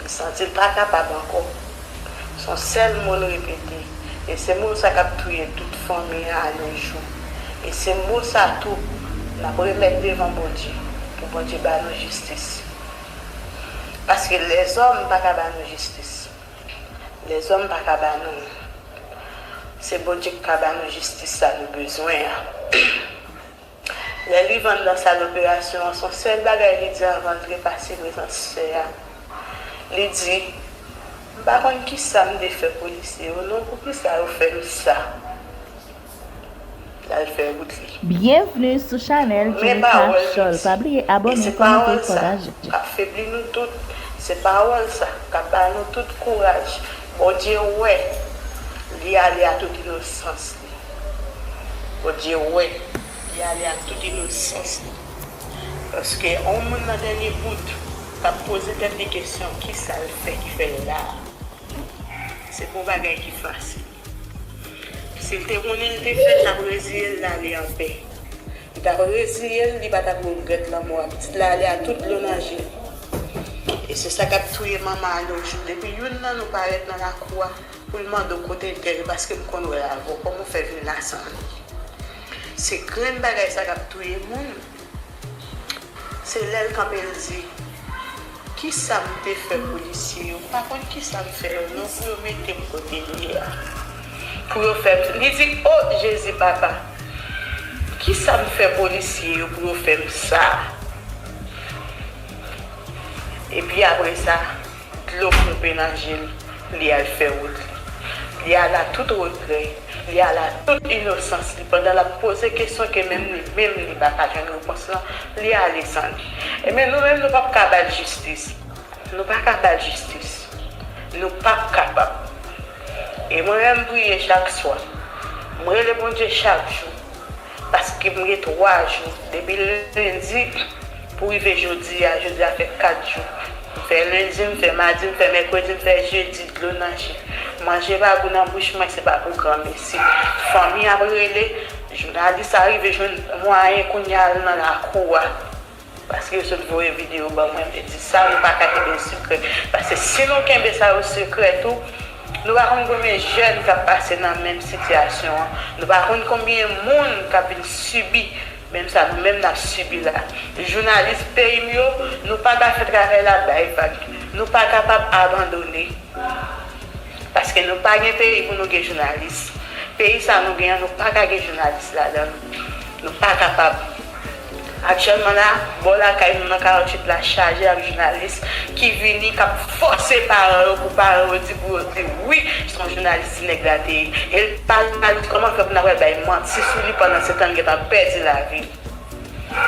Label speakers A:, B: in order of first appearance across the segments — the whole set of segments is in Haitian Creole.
A: Li santi l pa kapab ankò. Son sèl mo l repete. E se mo sa k ap touye tout fanmi an a yon jou. E se mo sa tou n ap remèt devan Bondye pou Bondye ba nou jistis. Paske lèzòm pa ka ba nou jistis. Lèzòm pa ka ba nou l. Se Bondye k ka ba nou jistis sa nou bezwen an. Lè li vann nan sal operasyon an, son sèl bagay li di anvan l trepase prezans sè a. Li di, M pa konn kisa m te fè polisye yo non, poukisa yo fè m sa? L al fè wout li. Byenvni sou
B: chanèl Jennifer Charles pa bliye abòne kòmante pataje. Kap febli nou
A: tout, se pawòl sa kap ba nou tout kouraj, Bondye wè li ale a tout inosans. Bondye wè, li ale ak tout inosans li. Paske yon moun nan dènye bout k ap poze tèt li kesyon ki sa l fè ki fè l la a, se pa yon bagay ki fasil. Si l te konnen l te fè, l t ap reziye l, l ale anpè. Li t ap reziye l, li pa t ap regrèt lanmò a pitit la ale a tout dlo nan je li. E se sa k ap touye manman a nojou. Depi youn nan nou parèt nan lakou a, Pou l mande w kote l te ye paske m konn wè l avè w kòman w fè vin la san li se grenn bagay sa k ap touye moun se lè l kanpe l di kisa m te fè polisye yo m pa konn kisa m fè yo non pou yo mete m kote m ye a pou yo fè m li di o jezi papa kisa m fè polisye yo pou yo fè m sa epi apresa. Dlo ponpe nan je l, li al fè wout li. Li ala tout regrè, li ala tout inosans li pandan l ap poze kesyon ke menm li menm li pa ka jwenn repons lan, li ale san li. Ebyen nou menm nou pap ka ba l jistis. Nou pa ka ba l jistis. Nou pap kapab. E mwen menm priye chak swa. M rele Bondye chak jou. Paske m gen 3 jou depi lendi pou rive jodi a, jodi a fè 4 jou. M fè lendi, m fè madi, m fè mèkredi, m fè jedi, dlo nan je. Manje pa gou nan bouch mwen se pa pou granmesi. Fanmi ap rele, jounalis a rive jwenn mwayen kounya al nan lakou a. Paske yo sot voye video ban mwen vle di sa nou paka kenbe sekrè paske si nou kenbe sa yo sekrè tou nou pa konn konbyen jèn kap pase nan menm sitiyasyon an nou pa konn konbyen moun kap vin sibi menm sa nou menm nap sibi la jounalis peyim yo nou paka fè travay la bay vag nou pa kapab abandone paske nou pa gen peyi pou nou gen jounalis peyi sa nou gen an nou paka gen jounalis ladann nou pa kapab. Aktyèlman la, bò lakay nou nan 48 la chaje ak jounalis ki vini k ap fòse paran yo pou paran yo di pou yo di wi se yon jounalis ti nèg la te ye e l pa la di kòman fè pou n ap bay manti sou li pandan se tan l gentan pèdi lavi l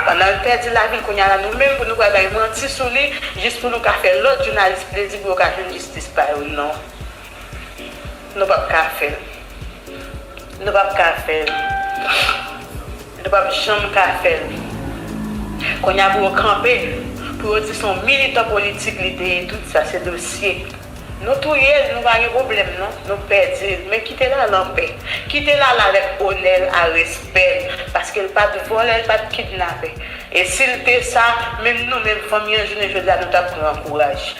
A: pandan l pèdi lavi l kounye a la nou menm pou nou pral bay manti sou li jis pou nou ka fè lòt jounalis plezi pou yo ka jwenn jistis pa yo non. Nou pap ka fèl. Nou pap ka fèl. Nou pap janm ka fèl. Konnya pou yo kanpe, pou yo di son militan politik li te ye tout sa se dosye. Nou touyel nou pa gen problèm non, nou pèdil men kite lala anpè. Kite lala avèk onèl a respèl paskel pat vòlè l pat kidnapè e sil te sa menm nou menm fanmi an jounen jodia nou tap pran kouraj.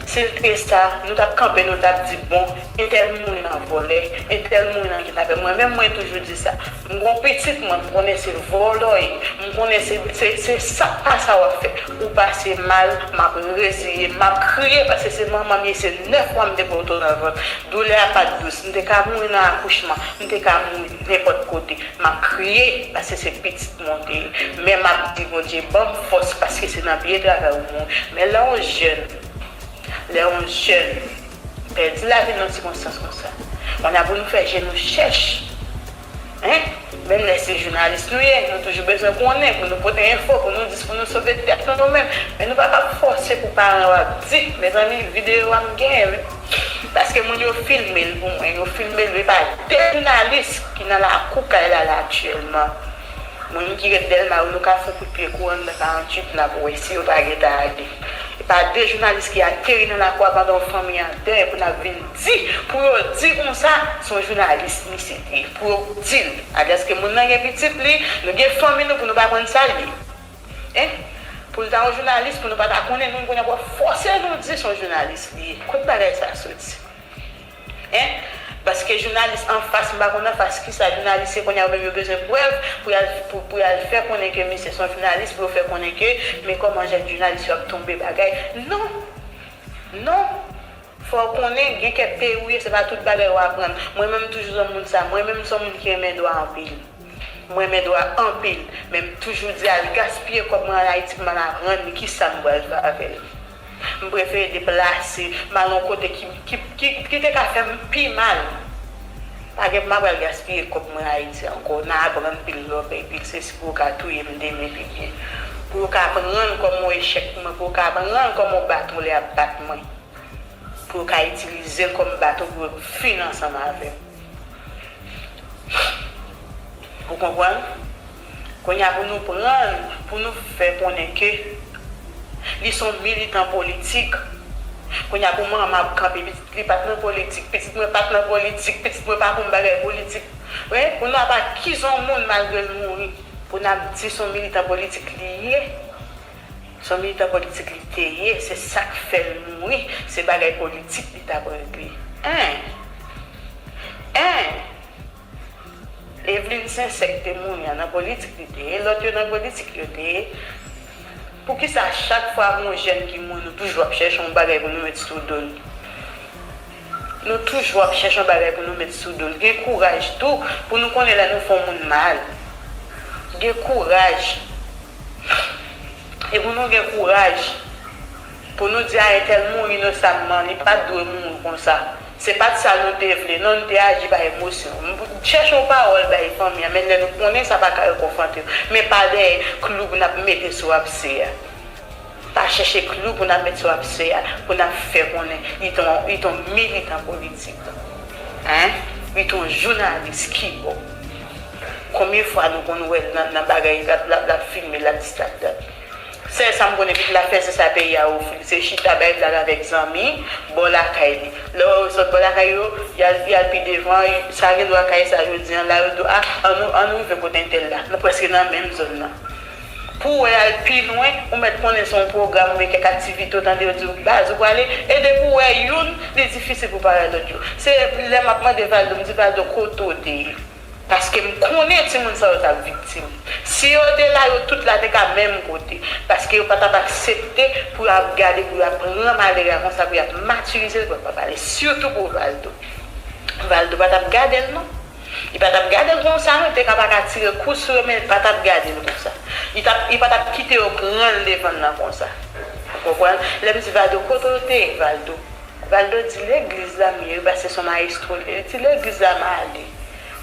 A: Sil t gen sa nou tap kanpe nou tap di bon entèl mouri nan vòlè entèl mouri nan kidnapè mwen menm mwen toujou di sa m gon pitit mwen m konnen se vòlòy m konnen se se se sak pa sa wap fè ou pase mal map reziye map kriye paske se manmanm ye se 9 mwa m te poto nan vant doulè a pat dous m te ka mouri nan akouchman m te ka mouri nenpòt kote map kriye paske se pitit. monte men map di bondye banm fòs paske se nan pye travay ou mwen men lè yon jèn lè yon jèn pèdi lavil nan sikonstans konsa on a pou nou fè je nou chèch hein menm lè se jounalis nou ye nou toujou bezwen konnen pou nou pote enfo pou nou dis pou nou sove tèt nou nou menm men nou pa kap fòse pou paran yo ap di mezanmi video a mgenyen. Paske moun yo filmel pou mwen yo filmel e pa de jounalis ki nan lakou kay la la aktyèlman moun ki ret dèlma yo nou ka fon kout pye kou anndan 48 nap wè si yo pa gentan ale e pa de jounalis ki ateri nan lakou a pandan yon fanmi an dèy pou nap vin di pou yo di konsa son jounalis misye t ye pou yo dil alyaske moun nan gen pitit li nou gen fanmi nou pou nou pa konn sal ye. Hein! Pou l ta yon jounalis pou nou pa ta konnen nou kounye a pou ap fòse nou di son jounalis li ye. Kot bagay sa soti? Hein! Paske jounalis anfas m pa konn anfas kisa jounalis ye kounye a yo menm yo bezwen prèv pou y al pou y al fè konnen ke misye son jounalis pou yo fè konnen ke men kòman jèn jounalis yo ap tonbe bagay. Non! Non! Fòw konnen, gen kèk peyi ou ye se pa tout bagay ou aprann. Mwen menm m toujou zonm moun sa. Mwen menm m son moun ki renmen dwa anpil. M renmen dwa anpil. Men m toujou di al gaspiye kòb mwen an Ayiti pou m al aprann li kisa m pral fè avè l. M prefere deplase, m al yon kote ki ki ki te ka fè m pi mal. Pa gen pou m ap al gaspiye kòb mwen Ayiti ankò nan aprann pil lòk e pil sesi pou yo ka touye m demen pi byen. Pou yo ka aprann kòman w echèk mwen, pou yo ka aprann kòman w bat mwen lè y ap bat mwen. pou yo ka itilizel kòm bato pou yo k fin ansanm avèm ou konprann kounya pou nou pranl pou nou fè konnen ke li son militan politik kounya pou manman ap kanpe pitit li pat nan politik pitit mwen pat nan politik pitit mwen pa konn bagay politik men pou nou ap akize yon moun malgrel mouri pou nap di son militan politik li ye Son militan politik li te ye se sak fel mouri se bagay politik li tap regle en en Evelyne sincère te mouri an nan politik li te ye lot yo nan politik yo te ye poukisa chak fwa gon jèn ki mouri nou toujou ap chèche yon bagay pou nou met sou dol nou toujou ap chèche yon bagay pou nou met sou dol gen kouraj tou pou nou konnen lè nou fon moun mal gen kouraj. E pou nou gen kouraj pou nou di a entèl mouri inosamman, li pa t dwe mouri konsa. Se pa t sa nou te vle non, nou te aji pa emosyon. Chèche yon pawòl bay fanmi an menn lè nou konnen sa pa ka rekonfòte yo, men pa dèyè klou pou n ap mete sou apse a. Pa chèche klou pou n ap met sou apse a pou n ap fè konnen li t on li t on militan politik hein li t on jounalis ki bo konbyen fwa nou konn wè l nan bagay lap lap lap filme lap dis lap dat sèl sa m konnen li la fè se sa peyi a ofri l se chita bay blag avèk zanmi bò lakay li lè w wè yo sot bò lakay yo y al y al pi devan sa gen dwa kaye sa jodi an la yo di w a an nou an nou rive kot entèl la nou prèske nan menm zòn nan. Pou wè al pi lwen, ou mèt konnen se yon pwogram oubyen kèk aktivite ou tande yo di ou baz ou prale, e depi ou wè youn, li difisil pou pare lòt yo. Se lè m ap mande Valdo, m di Valdo kote ou te ye? Paske m konnen timoun sa yo t ap viktim. Si yo te la, yo tout la te ka menm kote. Paske yo pa t ap aksepte pou yo ap gade, pou yo ap pran malere a konsa, pou y ap matirize l pou yo pa pale. Sitou pou Valdo. Valdo pa t ap gade l non. Li pa t ap gade l konsa non, li te ka pa ka tire kout sou yo men li pa t ap gade l konsa. Li t ap, li pa t ap kite yo pran l devan l nan konsa. Ou konprann? Lè m di Valdo, kote w te ye Valdo? Valdo di legliz la m ye wi paske son mayestwo l ye. Li di legliz la m ale.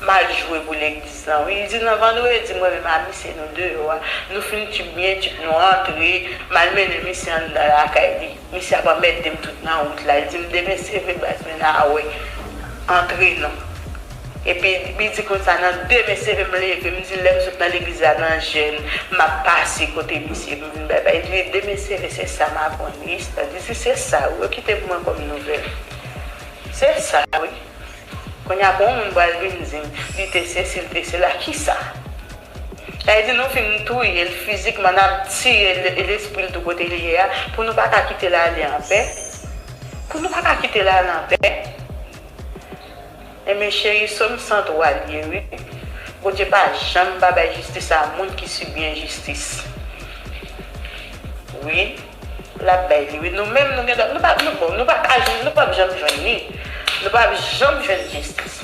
A: M al jwe pou legliz lan wi. Li di nan vandredi mwen menm a misye nou deyò a. Nou fin tchip byen tchip nou antre. M al mennen misye anndan lakay li. Misye ap anmèdem tout nan wout la li dim demen se vre baz men a wè antre non epi li di konsa nan demen se vre m leve m di lèm sot nan legliz la nan jèn map pase kote misye pou m vin bay bay li di demen se vre se sa m aprann wi Esther di si se sa wi yo kite pou mwen kòm nouvèl se sa wi kounya pou yon moun pral vin dim li te sesi li te sela kisa. Sa vle di nou fin touye l fizikman, n ap tiye lespri l tou kote l ye a, pou nou pa ka kite l ale anpè? Pou nou pa ka kite l ale anpè? Enben cheri, Som 103 l ye wi. Bondye pa janm pa bay jistis a moun ki sibi enjistis. Wi, l ap bay li wi. Nou menm nou gen dwa, nou pa, bon, nou pa ka jwenn, nou p ap janm jwenn li. Nou p ap janm jwenn jistis.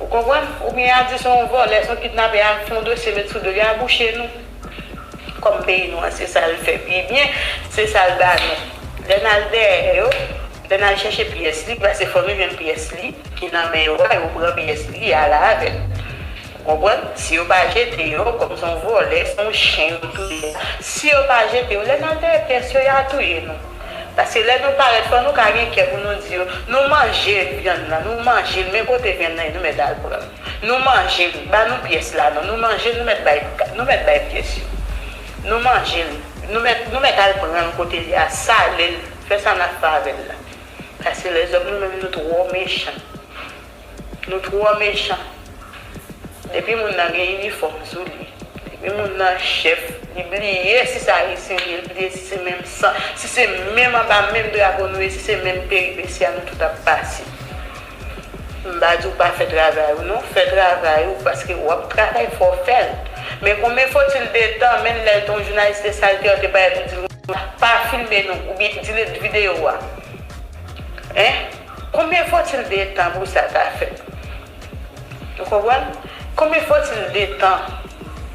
A: Ou konprann? Ou byen ya di se yon vòlè, se yon kidnapè ya fè yon dosye met sou dol, ya bouche nou. Kòm peyi nou an se sal fè pi byen, se sal ba nou. Lè nal dèyè yo, lè nal chèche pyès li, pase fò nou jwenn pyès li ki nan men yo a, yo pran pyès li ya ale avèl. Ou konprann? Si yo pa jete yo, kòm se yon vòlè, se yon chen yo touye ya, si yo pa jete yo, lè nal dèyè pyès yo, ya touye nou. Paske lè nou parèt fò nou ka gen kè pou nou di yo, nou manje vyann lan, nou manje l men kote vyann nan ye nou mèt al pran l. Nou manje l, ba nou pyès la non, nou manje l nou mèt bay nou mèt bay pyès yo. Nou manje l, nou mèt nou mèt al pran l kote l ye a, sale l, fè sa n ap fè avè l la. Paske lèzòm nou menm nou twò mechan. Nou twò mechan. Depi moun nan gen inifòm sou li, depi moun nan chèf, li bliye si se ayisyen li ye, li bliye si se menm san, si se menm anba menm drapo nou ye, si se menm peripesi a nou tout ap pase. M pa di w pa fè travay ou non, fè travay ou paske w ap travay fò w fè l. Men konbyen faut-il de tan, menn lè yon jounalis te salte w, te pale, te di l pa filme nou oubyen delete videyo a. Hein? Konbyen fotil de tan pou sa ta fèt? Nou konprann? Konbyen fotil de tan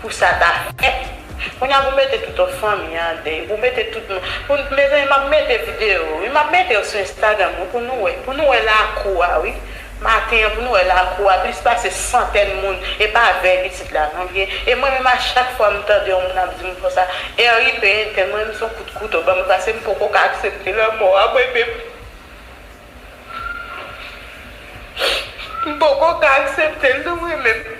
A: pou sa ta fèt? Kounye a pou mete touto fanmi an de, pou mete tout moun, pou mezanmi map mete video wi, map mete yo sou Instagram wi pou nou wè, pou nou wè lakou a wi, maten an pou nou wè lakou a plis pase santèn moun e pa vèy pitit la non byen e mwen menm a chak fwa m tande yon moun ap di m konsa RIP Entèn mwen menm son kout kouto banm pasem poko ka aksepte lanmò a mwen menm. M poko ka aksepte l non mwen menm.